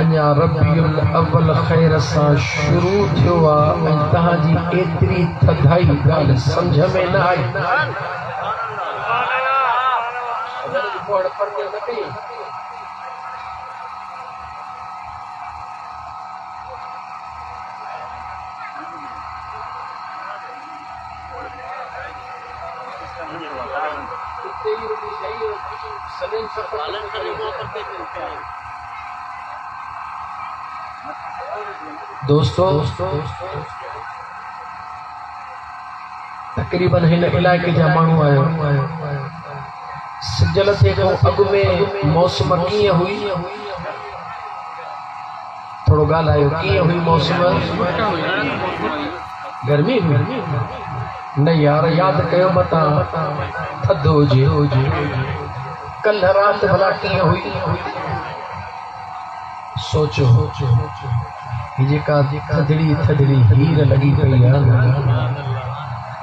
اڃا ربيع الاول خير سان شروع ٿيو آ ۽ توهان جي ايتري ٿڌائي ڳالهه سمجهه ۾ نه آئي. دوستو تقريبن هن علائقي جا ماڻهو آهيو سجل تي کان اڳ ۾ موسم ڪيئن هئي ٿورو ڳالهايو ڪيئن هئي موسم؟ گرمي هئي؟ نه يار ياد ڪيو متان ٿڌ هجي. ڪلهه رات ڀلا ڪيئن هئي؟ سوچو هي جيڪا ٿڌڙي ٿڌڙي هير لڳي پئي آهي نه.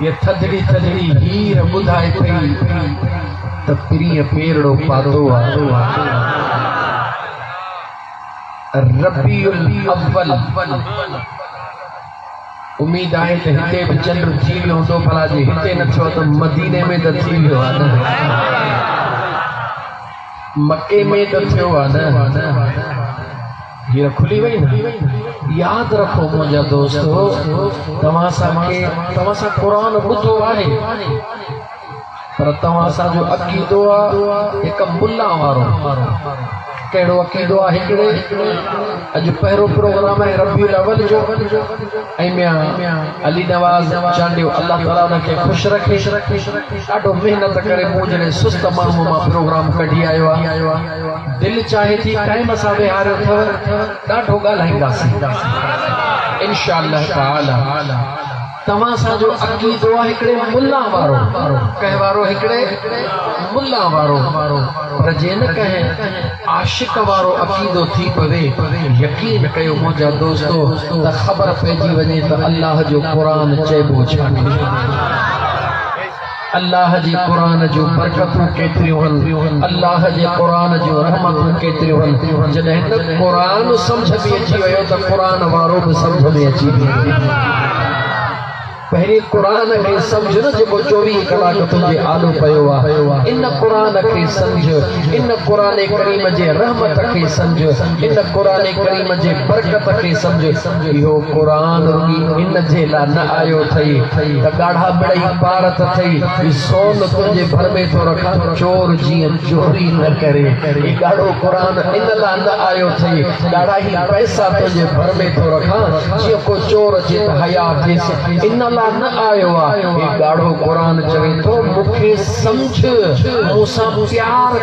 هيء ٿڌڙي ٿڌڙي هير ٻڌائي پئي ته پرينء پيرڙو پاتو آ. ربيع الاول، اميد آهي ته هتي به چنڊ ٿي ويو هوندو، ڀلا جي هتي نه ٿيو ته مديني ۾ ته ٿي ويو آ نه؟ مڪي ۾ ته ٿيو آ نه؟ هير کلي وئي نه ياد رکو منهنجا دوستو توهان سان کي توهان سان قرآن ٻڌو آهي پر توهان سان جو عقيدو آهي هڪ ملا وارو ڪهڙو عقيدو آهي هڪڙي اڄ پهرو پروگرام آهي ربي الاول جو ۽ ميان علي نواز چانڊيو الله تعالي ان کي خوش رکي ڏاڍو محنت ڪري مون جهڙي سست ماڻهو مان پروگرام ڪڍي آيو آهي دل چاهي ٿي ٽائيم سان ويهاريو اٿئو ڏاڍو ڳالهائينداسين انشاء الله تعالي توهان سان جو عقيدو آهي هڪڙي ملا وارو ڪنهن وارو هڪڙي ملا وارو پر جي نه ڪنهن عاشق وارو عقيدو ٿي پوي يقين ڪيو منهنجا دوستو ته خبر پئجي وڃي ته الله جو قرآن چئبو ڇا ٿي الله جي قرآن جون برڪتون ڪيتريون هن الله جي قرآن جون رحمتون ڪيتريون هن جڏهن ته قرآن سمجھ ۾ اچي ويو ته قرآن وارو به سمجھ ۾ اچي ويندو پهرين قرآن کي سمجھ نه جيڪو چوويهه ڪلاڪ تنهنجي آڏو پيو آهي ان قرآن کي سمجھ ان قرآن ڪريم جي رحمت کي سمجھ ان قرآن ڪريم جي برڪت کي سمجھ اهو قرآن ئي ان جي لاء نه آيو اٿئي ته ڳاڙها ٻڙئي پار ته ٿئي، هي سون تنهنجي ڀر ۾ ٿو رکان، چور جيئن چوري نه ڪري. هي ڳاڙهو قرآن ان لاء نه آيو اٿئي، ڳاڙها هي پئسا تنهنجي ڀر ۾ ٿو رکان، جيئن ڪو چور اچي ته حياء ٿيس، ان لاء نه آيو آهي. هي ڳاڙهو قرآن چوي ٿو، مون کي سمجهه، مون سان پيار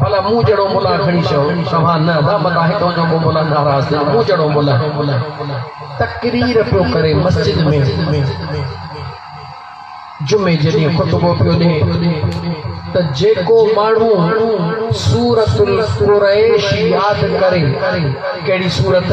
ڀلا مون جھڙو ملان کڻي چئو توھان نه ادا متان ھي تنھنجو ڪو ملان ناراض ٿيو مون جھڙو ملان تقرير پيو ڪري مسجد ۾ جمعي جي ڏينھن خطبو پيو ڏي ته جيڪو ماڻھو سورت القريش ياد ڪري ڪھڙي سورت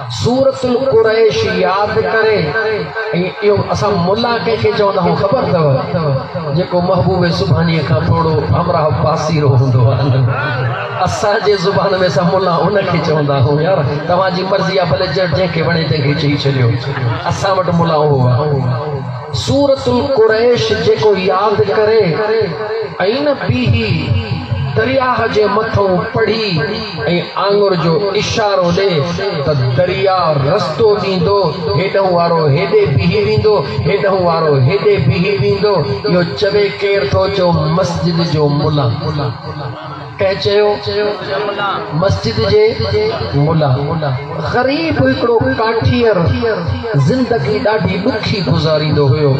سورة القريش ياد ڪري ۽ اهو اسان ملا ڪنهن کي چوندا هئون خبر اٿو جيڪو محبوب سبحانيء کان ٿورو همراهه پاسيرو هوندو هو اسان جي زبان ۾ اسان ملا ان کي چوندا هئون يار توهان جي مرضي آهي ڀلي جنهن کي وڻي تنهن کي چئي ڇڏيو اسان وٽ ملا اهو آهي سورة القريش جيڪو ياد ڪري ۽ نه بيهي درياهه جي مٿو پڙهي ۽ آڱر جو اشارو ڏي ته درياء رستو ڏيندو، هيڏهن وارو هيڏي بيهي ويندو، هيڏهن وارو هيڏي بيهي ويندو. اهو چوي ڪير ٿو؟ چيو مسجد جو ملا. ڪنهن چيو؟ مسجد جي ملا. غريب هڪڙو ڪاٺير زندگي ڏاڍي ڏکي گذاريندو هيو.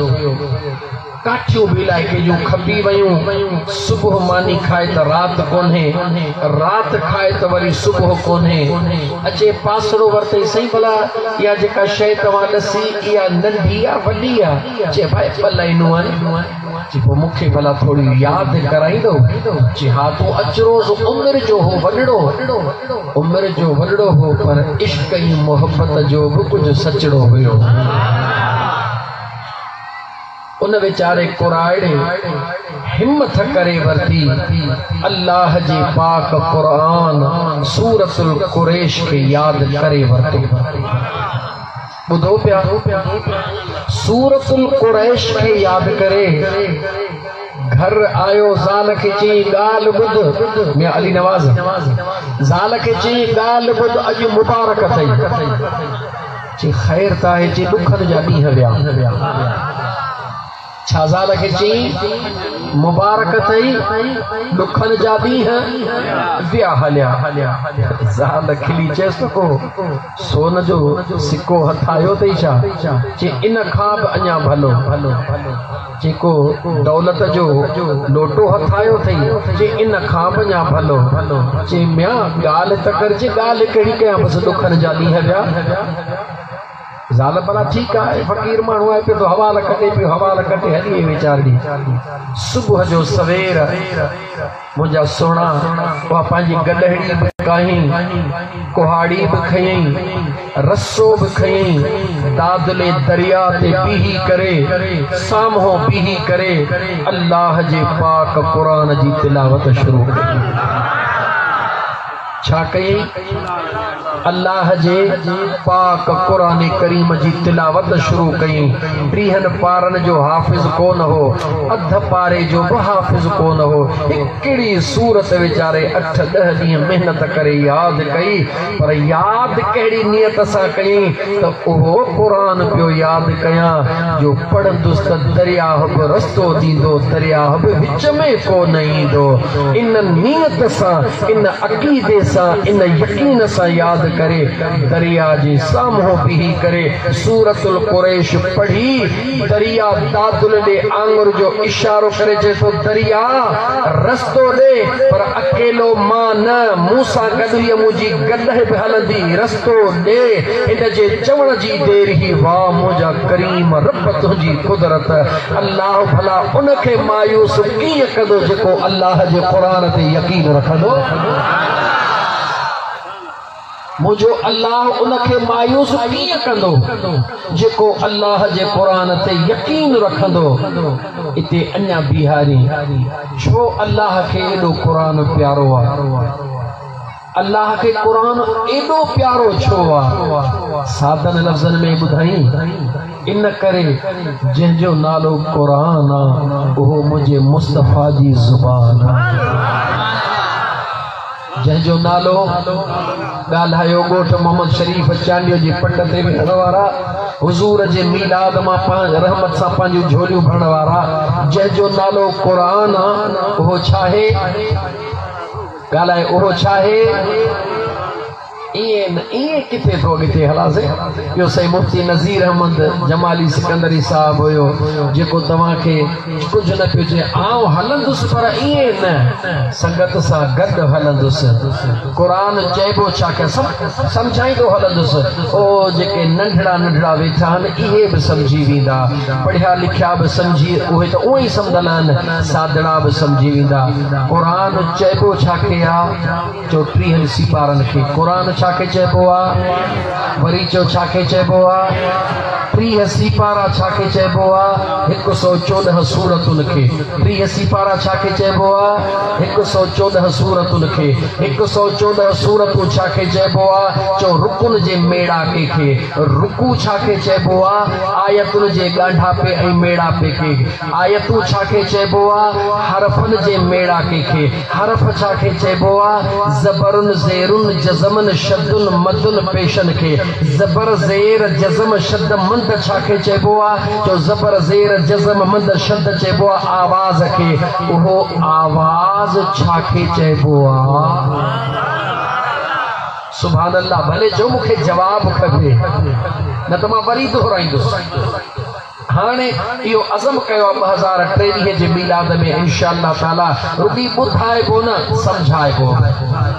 ڪاٺيون به علائقي جون کپي ويون، صبح ماني کائي ته رات ڪونهي، رات کائي ته وري صبح ڪونهي. اچي پاسڙو ورتئي، سائين ڀلا اها جيڪا شيء توهان ڏسي، اها ننڍي يا وڏي آ؟ چي ڀاء ٻه لائينون آهن. چي پوء مون کي ڀلا ٿوري ياد ڪرائيندو؟ چي ها تون اچ روز عمر جو هو وڏڙو، عمر جو وڏڙو هو پر عشق ۽ محبت جو به ڪجهه سچڙو هيو. ان ويچاري ڪراڙي همٿ ڪري ورتي الله جي پاڪ قرآن سورة القريش کي ياد ڪري ورتو ٻڌو پيا سورة القريش کي ياد ڪري گھر آيو زال کي چين ڳالھ ٻڌ ميان علي نواز زال کي چين ڳالھ ٻڌ اڄ مبارڪ اٿئي چي خير ته آهي چي ڏکن جا ڏينهن ويا. ڇا زال کي چيائين مبارڪ اٿئي ڏکن جا ڏينهن ويا هليا. زال کلي چيس ته ڪو سون جو سڪو هٿ آيو اٿئي ڇا؟ چي ان کان به اڃا ڀلو. جيڪو دولت جو لوٽو هٿ آيو اٿئي، چي ان کان به اڃا ڀلو. چي ميان ڳالهه ته ڪر، چي ڳالهه ڪهڙي ڪيان، بس ڏکن جا ڏينهن ويا. زال ڀلا ٺيڪ آهي، فقير ماڻهو آهي، پيو ٿو حوال ڪٽي، پيو حوال ڪٽي هلي ويچارڙي صبح جو سوير. منهنجا سهڻا، اها پنهنجي گڏهڙي به ڪاهين، ڪهاڙي به کنيئي، رسو به کنيئي، دادلي درياء تي بيهي ڪري، سامهون بيهي ڪري، الله جي پاڪ قرآن جي تلاوت شروع ڪئي. ڇا ڪيئي؟ الله جي پاڪ قرآن ڪريم جي تلاوت شروع ڪيئي. ٽيهن پارن جو حافظ ڪو نه هو، اڌ پاري جو به حافظ ڪو نه هو. هڪڙي سورت ويچاري اٺ ڏهه ڏينهن محنت ڪري ياد ڪيئي، پر ياد ڪهڙي نيت سان ڪيئي؟ ته اهو قرآن پيو ياد ڪيان جو پڙهندس ته درياهه به رستو ڏيندو، درياهه به وچ ۾ ڪو نه ايندو. ان نيت سان، ان عقيدي سان، ان يقين سان ياد ڪري، درياهه جي سامهون بيهي ڪري سورة القريش پڙهي، درياهه دادل ڏي آڱر جو اشارو ڪري چئي ٿو، درياهه رستو ڏي پر اڪيلو مان نه، مون سان گڏ هيء منهنجي گڏهه به هلندي. تو ڏي ان جي چوڻ جي دير هي واء منهنجا ڪريم رب تنهنجي قدرت الله ڀلا ان کي مايوس ڪيئن ڪندو جيڪو الله جي قرآن تي يقين رکندو منهنجو الله ان کي مايوس ڪيئن ڪندو جيڪو الله جي قرآن تي يقين رکندو اتي اڃا بيهاري ڇو الله کي ايڏو قرآن پيارو آهي الله کي قرآن ايڏو پيارو ڇو آ؟ سادن لفظن ۾ ٻڌائين، ان ڪري جنهن جو نالو قرآن آ، اهو منهنجي مصطفيٰ جي زبان آ. جنهن جو نالو ڳالهايو ڳوٺ محمد شريف چانڊيو جي پٽ تي ويهڻ وارا حضور جي ميلاد مان رحمت سان پنهنجون جھوليون ڀرڻ وارا جنهن جو نالو قرآن آ، اهو ڇا آهي؟ ڳالهائي اهو ڇاهي ائين نه ائين ڪٿي ٿو اڳتي هلاسين ٻيو سائين مفتي نظير احمد جمالي سڪندري صاحب هيو جيڪو توهان کي ڪجهه نه پيو چئي آئون هلندس پر ائين نه سنگت سان گڏ هلندس قرآن چئبو ڇا کي سمجهائيندو هلندس او جيڪي ننڍڙا ننڍڙا ويٺا آهن اهي به سمجهي ويندا پڙهيا لکيا به سمجهي اهي ته اونئي سمجهندا آهن سادڙا به سمجهي ويندا. قرآن چئبو ڇا کي آ؟ چؤ ٽيهن سيپارن کي قرآن ڇا کي چئبو آ؟ وري چؤ ڇا کي چئبو آ؟ ٽيهه سيپارا ڇا کي چئبو آ؟ هڪ سؤ چوڏهن سورتن کي ٽيهه سيپارا ڇا کي چئبو آ؟ هڪ سؤ چوڏهن سورتن کي هڪ سؤ چوڏهن سورتون ڇا کي چئبو آ؟ چؤ رڪن جي ميڙاڪي کي رڪوع ڇا کي چئبو آ؟ آيتن جي ڳانڍاپي ۽ ميڙاپي کي. آيتون ڇا کي چئبو آ؟ حرفن جي ميڙاڪي کي. حرف ڇا کي چئبو آ؟ زبرن، زيرن، جزمن، شدن، مدن، پيشن کي. زبر، زير، جزم، شد، مد ڇا کي چئبو آ؟ چؤ زبر، زير، جزم، مد، شد چئبو آ آواز کي. اهو آواز ڇا کي چئبو آ؟ سبحان الله ڀلي چؤ مون کي جواب کپي نه ته مان وري دهرائيندس. هاڻي اهو عزم ڪيو آهي ٻه هزار ٽيويهه جي ميلاد ۾ انشاء الله تعالي رڳي ٻڌائبو نه سمجهائبو به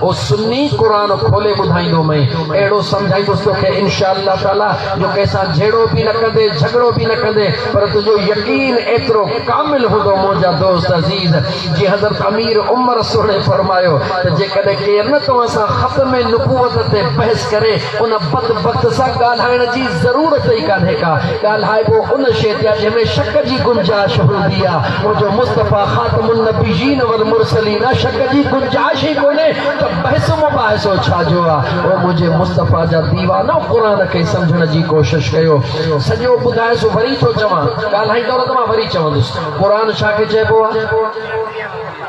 او سني قرآن کولي ٻڌائيندو مئي اهڙو سمجهائيندس توکي انشاء الله تعالي جو ڪنهن سان جهيڙو به نه ڪندي جهڳڙو به نه ڪندي پر تنهنجو يقين ايترو ڪامل هوندو منهنجا دوست عزيز جي حضرت امير عمر سهڻي فرمايو ته جيڪڏهن ڪير نه توهان سان ختم نبوت تي بحث ڪري ان بدبخت سان ڳالهائڻ جي ضرورت ئي ڪانهي ڪا. ڳالهائبو ان شيء تي آهي جنهن ۾ شڪ جي گنجائش هوندي آ. منهنجو مصطفيٰ خاتم النبيين والمرسلين آ، شڪ جي گنجائش ئي ڪونهي ته بحث مباحثو ڇا جو آ. او منهنجي مصطفيٰ جا ديوانو قرآن کي سمجهڻ جي ڪوشش ڪيو. سڄو ٻڌايس وري ٿو چوان. ڳالهائيندؤ نه ته مان وري چوندس. قرآن ڇا کي چئبو آ؟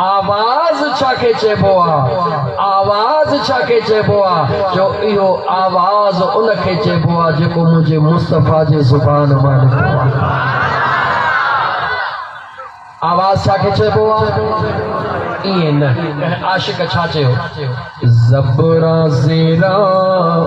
آواز ڇا کي چئبو آ؟ آواز ڇا کي چئبو آ؟ جو اهو آواز ان کي چئبو آ جيڪو منهنجي مصطفيٰ جي زبان مان نڪتو آ. آواز ڇا کي چئبو آ؟ ائين نه ڪنهن عاشق ڇا چيو؟ زبران زيران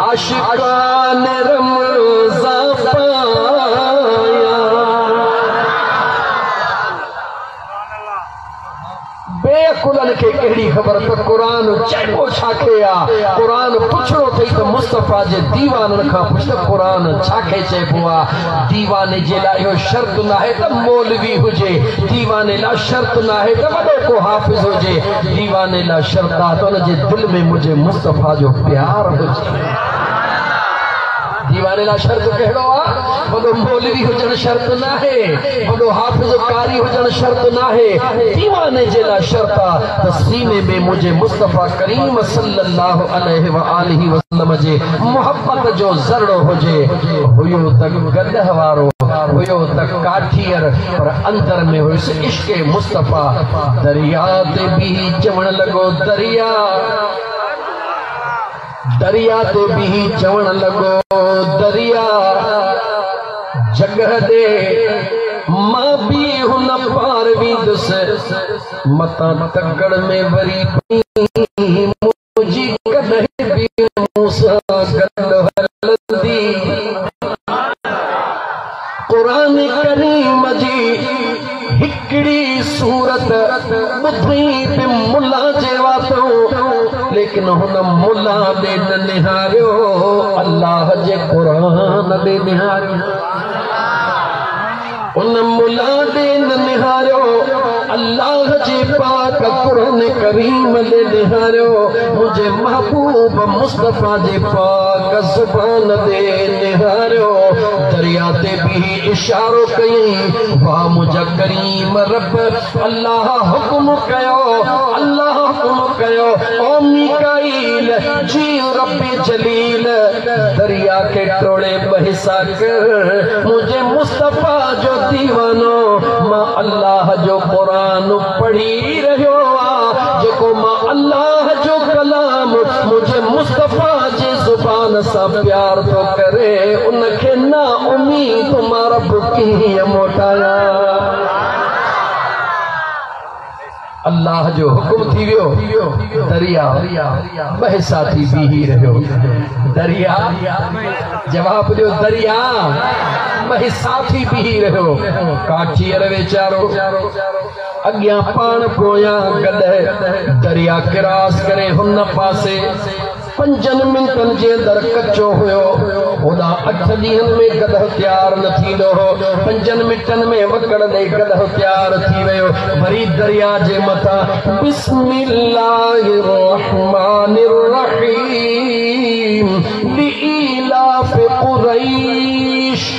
عاشقان رمضان پايا بي عقلن کي ڪهڙي خبر ته قرآن چئبو ڇا کي آ قرآن پڇڻو ٿئي ته مصطفيٰ جي ديوانن کان پڇ ته قرآن ڇا کي چئبو آ ديواني جي لاء اهو شرط ناهي ته مولوي هجي ديواني لاء شرط ناهي ته وڏو ڪو حافظ هجي ديواني لا شرطا تون جي دل ۾ منهنجي مصطفيٰ جو پيار هجي ديواني لا شرط ڪهڙو آ وڏو مولوي هجڻ شرط ناهي وڏو حافظ قاري هجڻ شرط ناهي ديواني جي لا شرط آ ته سيني ۾ منهنجي مصطفيٰ ڪريم صلي الله عليه واٰله وسلم جي محبت جو ذرڙو هجي هيو ته گڏهه وارو هيو ته ڪاٺير پر اندر ۾ هيس عشق مصطفيٰ درياء تي بيهي چوڻ لڳو درياء درياء تي بيهي چوڻ لڳو درياء جڳهه ڏي مان بي هن پار ويندس متان تڪڙ ۾ وري جي ڪڏهن به مون سان گڏ هلندي قرآن ڪريم جي هڪڙي صورت ٻڌي به ملا جي واتو ليڪن هن ملا ڏي نه نهاريو الله جي قرآن ڏي نهاريو ان ملا ڏي نه نهاريو الله جي پاڪ قرآن ڪريم ڏي نهاريو منهنجي محبوب مصطفيٰ جي پاڪ زبان ڏي نهاريو دريا تي بيهي اشارو ڪيئي وا منهنجا ڪريم رب الله حڪم ڪيو الله حڪم ڪيو او ميڪائي دليل جيئن رب جليل دريا کي ٽوڙي ٻه حصا ڪر منهنجي مصطفيٰ جو ديوانو مان الله جو قرآن پڙهي رهيو آ جيڪو مان الله جو ڪلام منهنجي مصطفيٰ جي زبان سان پيار ٿو ڪري ان کي نا اميد مان رب ڪيئن موٽايان. الله جو حڪم ٿي ويو، درياء مهسا ٿي بيهي رهيو. درياء جواب ڏيو، درياء مهسا ٿي بيهي رهيو. ڪاٺير ويچارو اڳيان پاڻ پويان گڏهه درياء ڪراس ڪري هن پاسي پنجن منٽن جي اندر ڪچو هيو، هوڏانهن اٺ ڏينهن ۾ گڏهه تيار نه ٿيندو هو، پنجن منٽن ۾ وڪڙ ڏئي گڏهه تيار ٿي ويو، وري درياء جي مٿان بسم الله الرحمٰن الرحيم لإيلاف قريش.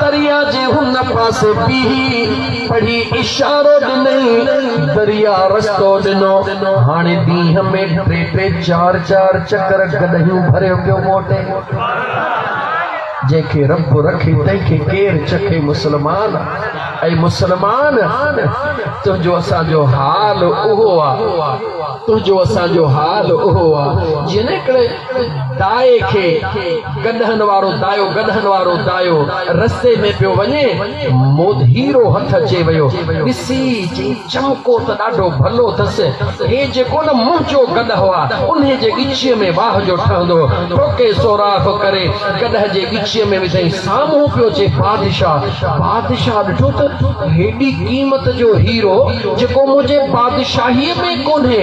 دريا جي هن پاسي بيهي پڙهي اشارو ڏنئين. دريا رستو ڏنو. هاڻي ڏينهن ۾ ٽي ٽي چار چار چڪر گڏهيون ڀريو پيو موٽي. جنهن کي رب رکي تنهن کي ڪير چکي مسلمان. اي مسلمان! تنهنجو اسان جو حال اهو آ. تنهنجو اسان جو حال اهو آ. جنهن ڪري. دائي کي گڏهن وارو دايو گڏهن وارو دايو رستي ۾ پيو وڃي، مودهيرو هٿ اچي ويو، ڏسي چيائين، چمڪو ته ڏاڍو ڀلو اٿس، هي جيڪو نه منهنجو گڏهو آ، انهي جي ڳچيء ۾ واهه جو ٺهندو هو، ٺوڪي سوراخ ڪري گڏهه جي ڳچيء ۾ وڌائين، سامهون پيو اچي بادشاهه، بادشاهه ڏٺو ته هيڏي قيمت جو هيرو جيڪو منهنجي بادشاهيء ۾ ڪونهي،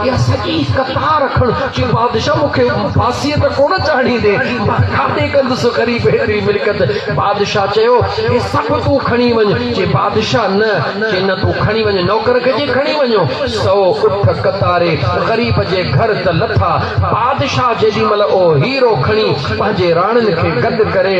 اها سڄي قطار رکڻ چي بادشاهه مون کي ڦاسيء ته ڪونه چاڙهيندين پر کاڌي ڪندس غريب هيٺري ملڪيت بادشاهه چيو هي سڀ تون کڻي وڃ چي بادشاهه نه چي نه تون کڻي وڃ نوڪر کي چي کڻي وڃو سو اٺ قطاري غريب جي گهر ته لٿا بادشاهه جيڏي مهل اهو هيرو کڻي پنهنجي راڻين کي گڏ ڪري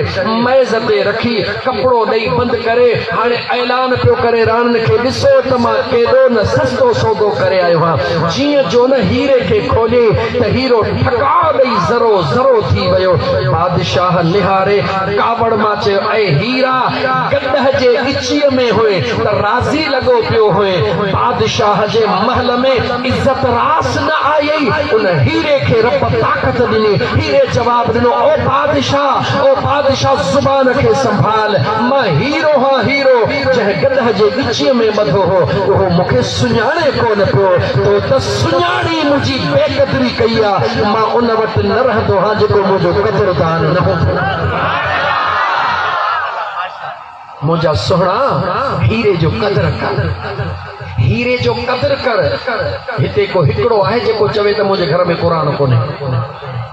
ميز تي رکي ڪپڙو ڏئي بند ڪري هاڻي اعلان پيو ڪري راڻن کي ڏسو ته مان ڪيڏو نه سستو سودو ڪري آيو هان جيئن جو نه هيري کي کولي ته هيرو ٺڪاء ڏئي ذرو ذرو ٿي ويو بادشاهه نهاري ڪاوڙ مان چيو اي هيرا گڏهه جي ڳچيء ۾ هئين ته راضي لڳو پيو هئين بادشاهه جي محل ۾ عزت راس نه آيئي ان هيري کي رب طاقت ڏني هيري جواب ڏنو او بادشاهه او بادشاهه زبان کي سنڀال، مان هيرو هان هيرو جنهن گڏهه جي ڳچيء ۾ ٻڌو هو، اهو مون کي سڃاڻي ڪونه پيو، تو ته سڃاڻي منهنجي بي قدري ڪئي آ، مان ان وٽ نه رهندو هان جيڪو منهنجو قدردان نه هوندو. منهنجا سهڻا هيري جو قدر ڪر، هيري جو قدر ڪر، هتي ڪو هڪڙو آهي جيڪو چوي ته منهنجي گهر ۾ قرآن ڪونهي.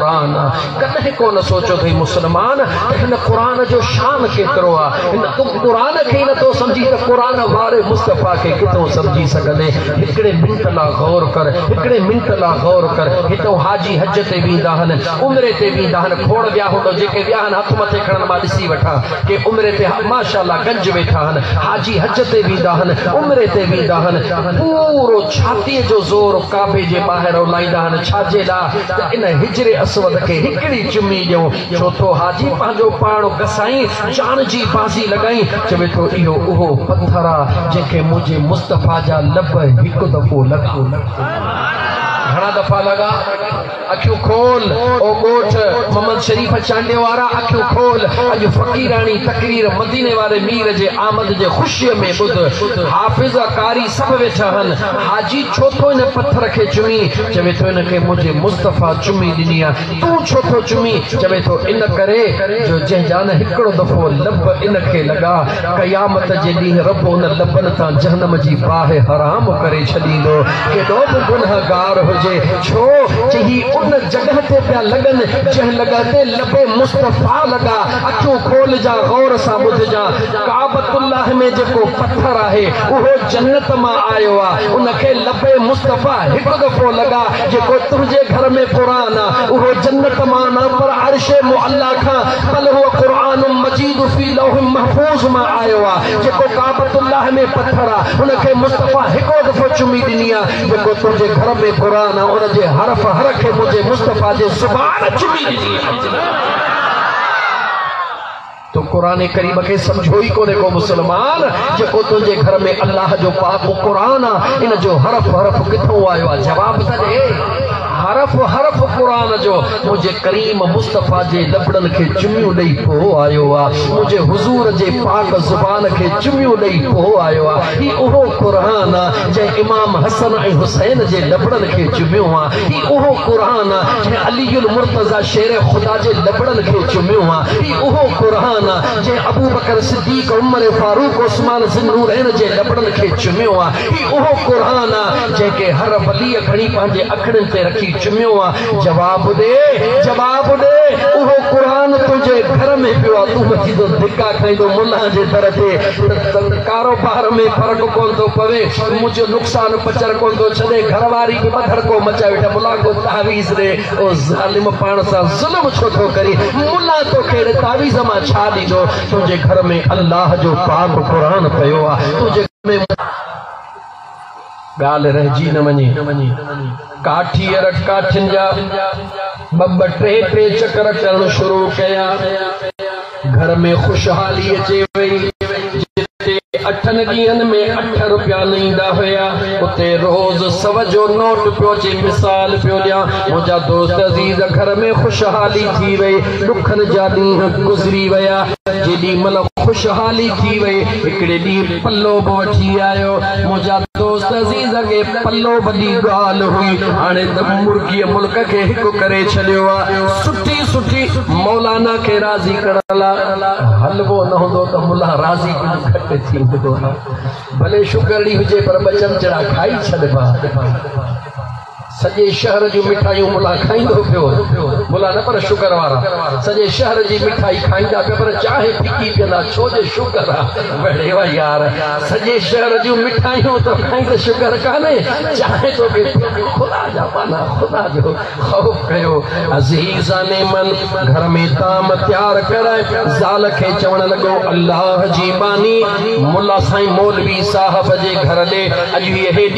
قرآن ڪڏهن ڪونه سوچيو اٿئي مسلمان ته هن قرآن جو شان ڪيترو آ هن تون قرآن کي ئي نٿو سمجهين ته قرآن واري مصطفيٰ کي ڪٿو سمجهي سگهندين هڪڙي منٽ لا غور ڪر هڪڙي منٽ لا غور ڪر هتئون حاجي حج تي ويندا هن عمري تي ويندا هن کوڙ ويا هوندو جيڪي ويا هن هٿ مٿي کڻن مان ڏسي وٺان ڪي عمري تي ماشاءالله گنج ويٺا هن حاجي حج تي ويندا هن عمري تي ويندا هن پورو ڇاتي جو زور ڪعبي جي ٻاهر اولائيندا هن ڇاجي لا ته ان حجر اسود کي هڪڙي چمي ڏيون، ڇو ٿو حاجي پنهنجو پاڻ گسائين جان جي بازي لڳائين، چوي ٿو اهو اهو پٿر آ، جنهن کي منهنجي مصطفيٰ جا لب هڪ دفعو لڳا. گهڻا دفعا لڳا. اکيون کول او ڳوٺ محمد شريف چانڊيو وارا، اکيون کول اڄ فقيراڻي تقرير مديني واري مير جي آمد جي خوشيء ۾ ٻڌ، حافظ قاري سڀ ويٺا آهن، حاجي ڇو ٿو ان پٿر کي چمين؟ چوي ٿو ان کي منهنجي مصطفيٰ چمي ڏني آ. تون ڇو ٿو چمين؟ چوي ٿو ان ڪري جو جنهن جا نه هڪڙو دفعو لب ان کي لڳا، قيامت جي ڏينهن رب ان لبن تان جهنم جي باهه حرام ڪري ڇڏيندو. ڪيڏو به گنهگار هجي ڇو جو هي ان جڳهه تي پيا لڳن جنهن لڳهه تي لب مصطفيٰ لڳا. اکيون کولجان غور سان ٻڌجان. ڪعبة الله ۾ جيڪو پٿر آهي اهو جنت مان آيو آ ان کي لبي مصطفيٰ هڪ دفعو لڳا جيڪو تنهنجي گهر ۾ قرآن آ اهو جنت مان نه پر عرش معليٰ کان بل هو قرآن مجيد في لوح محفوظ مان آيو آ جيڪو ڪعبة الله ۾ پٿر آ ان کي مصطفيٰ هڪو دفعو چمي ڏني آ جيڪو تنهنجي گهر ۾ قرآن آ ان جي حرف حر کي منهنجي مصطفيٰ جي زبان چمي ڏني آ. تون قرآن ڪريم کي سمجهيو ئي ڪونهي ڪو مسلمان جيڪو تنهنجي گهر ۾ الله جو پاڪ قرآن آ ان جو حرف حرف ڪٿئون آيو آ جواب ته ڏي حرف حرف قرآن جو منهنجي ڪريم مصطفيٰ جي لبڙن کي چميون ڏئي پو آيو آ منهنجي حضور جي پاڪ زبان کي چميون ڏئي پو آيو آ هي اهو قرآن آ جنهن امام حسن ۽ حسين جي لبڙن کي چميو آ هي اهو قرآن آ جنهن علي المرتضيٰ شير خدا جي لبڙن کي چميو آ. هي اهو قرآن آ جنهن ابوبڪر صديق، عمر فاروق، عثمان ذي النورين جي لبڙن کي چميو آ. هي اهو قرآن آ جنهن کي هر وليء کڻي پنهنجي اکڙين تي رکي چميو آ. جواب ڏي، جواب ڏي، اهو قرآن تنهنجي گهر ۾ پيو آ، تون وڃي ته ڌڪا کائيندو ملان جي در تي ته ڪاروبار ۾ فرق ڪونه ٿو پوي. سمو جو نقصان پچر ڪون ٿو ڇڏي، گهر واري به ٻڌڻڪو مچائي ويٺي آهي، ملان ڪو تعويذ ڏي، او ظالم پاڻ سان ظلم ڇو ٿو ڪرين، ملان توکي اهڙي تعويذ مان ڇا ڏيندو، تنهنجي گهر ۾ الله جو پاڪ قرآن پيو آهي، تنهنجي گهر ۾ ڳالهه رهجي نه وڃي. ڪاٺيء رڳ ڪاٺين جا ٻه ٻه ٽي ٽي چڪر ڪرڻ شروع ڪيا. گهر ۾ خوشحالي اچي وئي. جتي اٺن ڏينهن ۾ اٺ روپيا نه ايندا هيا، اتي روز سو جو نوٽ پيو اچي. مثال پيو ڏيان، منهنجا دوست عزيز، گهر ۾ خوشحالي ٿي وئي. ڏکن جا ڏينهن گذري ويا. جيڏي مهل خوشحالي ٿي وئي، هڪڙي ڏينهن پلو به وٺي آيو. منهنجا. دوست عزيز اڳي پلو وڏي ڳالهه هئي هاڻي ته مرگيء ملڪ کي هڪ ڪري ڇڏيو آ سٺي سٺي مولانا کي راضي ڪرڻ لا حلوو نه هوندو ته ملان راضي ڪجهه گهٽ ٿيندو آ ڀلي شگرڙي هجي پر ٻه چمچڙا کائي ڇڏبا سڄي شهر جون مٺايون ملان کائيندو پيو وڃي. ملان نه پر شگر وارا سڄي شهر جي مٺائي کائيندا پيا پر چانهه ڦڪي پيئندا ڇو جو شگر آ. وڙي وئا يار سڄي شهر جون مٺايون ٿو کائين ته شگر ڪانهي چانهه ٿو پي پيئين. خدا جا مانا خدا جو خوف ڪيو. عزيزان من گهر ۾ طعام تيار ڪر زال کي چوڻ لڳو الله جي ٻانهي ملا سائين مولوي صاحب جي گهر ڏي اڄ هيء هيڏي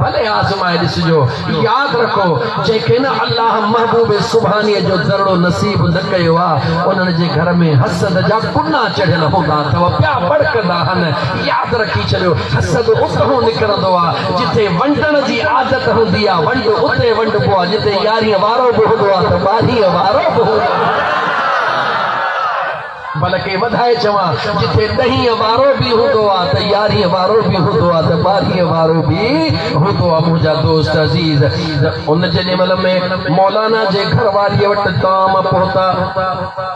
ڀلي آزمائي ڏسجو. ياد رکو، جنهن کي نه الله محبوب سبحانيء جو ذرڙو نصيب نه ڪيو آ، انهن جي گهر ۾ حسد جا ڪنا چڙهيل هوندا اٿو، پيا ٻڙڪندا هن. ياد رکي ڇڏيو، حسد اتهون نڪرندو آ، جتي ونڊڻ جي عادت هوندي آ، ونڊ اتي ونڊبو آ، جتي يارينء وارو به هوندو آ ته ٻارهينء وارو به هوندو آ. بلڪه وڌائي چوان، جتي ڏهين وارو به هوندو آ ته يارهين وارو به هوندو آ ته ٻارهين وارو به هوندو آ منهنجا دوست عزيز ان جيڏي مهل ۾ مولانا جي گهر واريء وٽ تام پهتا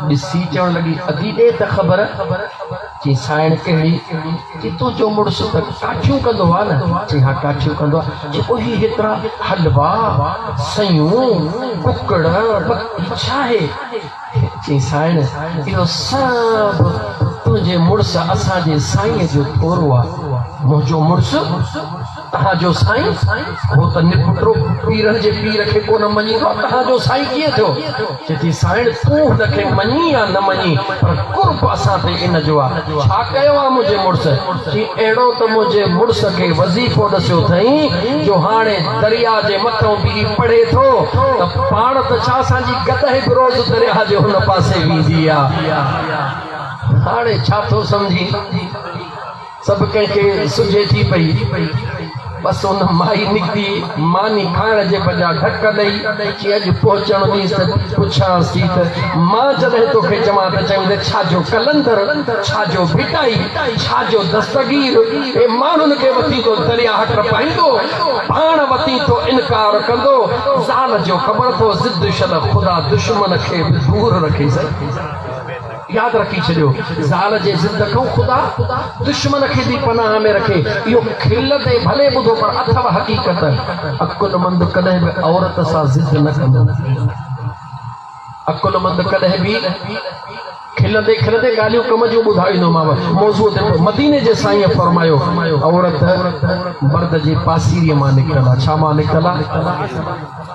ڏسي چوڻ لڳي ادي ڏي ته خبر چي سائڻ ڪهڙي چي تنهنجو مڙس ته ڪاٺيون ڪندو آ نه چي ها ڪاٺيون ڪندو آ چي پوء هي هيترا حلوا سيون ڪڪڙ ٻڪري ڇا آهي چي سائڻ اهو سڀ تنهنجي مڙس اسان جي سائينء جو ٿورو آ، منهنجو مڙس تنهان جو سائين هو ته نپٽرو پيرن جي پير کي ڪونه مڃيندو آ، تنهان جو سائين ڪيئن ٿيو؟ چي ٿي سائڻ تون هن کي مڃين يا نه مڃين پر قرب اسان تي ان جو آ، ڇا ڪيو آ منهنجي مڙس؟ چي اهڙو ته منهنجي مڙس کي وظيفو ڏسيو ٿئين جو هاڻي درياء جي مٿئون بيهي پڙهي ٿو ته پاڻ ته ڇا اسان جي گڏهه به روز درياء جي هن پاسي ويندي آ هاڻي ڇا ٿو سمجهين سڀ ڪنهن کي سجهي ٿي پئي بس ان مائي نڪتي ماني کائڻ جي بجا ڌڪ ڏئي چي اڄ پهچڻ ڏينس ته پڇانس ٿي ته مان جڏهن توکي چوان ته چوين ته ڇا جو قلندر ڇا جو ڀٽائي ڇا جو دستگير هي ماڻهن کي وتين ٿو درياهه ٽپائيندو پاڻ وتين ٿو انڪار ڪندو زال جو خبر ٿو ضد شل خدا دشمن کي به دور رکيسين. ياد رکي ڇڏيو زال جي ضد کان خدا دشمن کي به پناهه ۾ رکي اهو کل تي ڀلي ٻڌو پر اٿو حقيقت عقلمند ڪڏهن به عورت سان ضد نه ڪندو عقلمند ڪڏهن به کلندي کلندي ڳالهيون ڪم جون ٻڌائيندوماو موضوع تي مديني جي سائين فرمايو عورت مرد جي پاسيري مان نڪتل آ ڇا مان نڪتل آ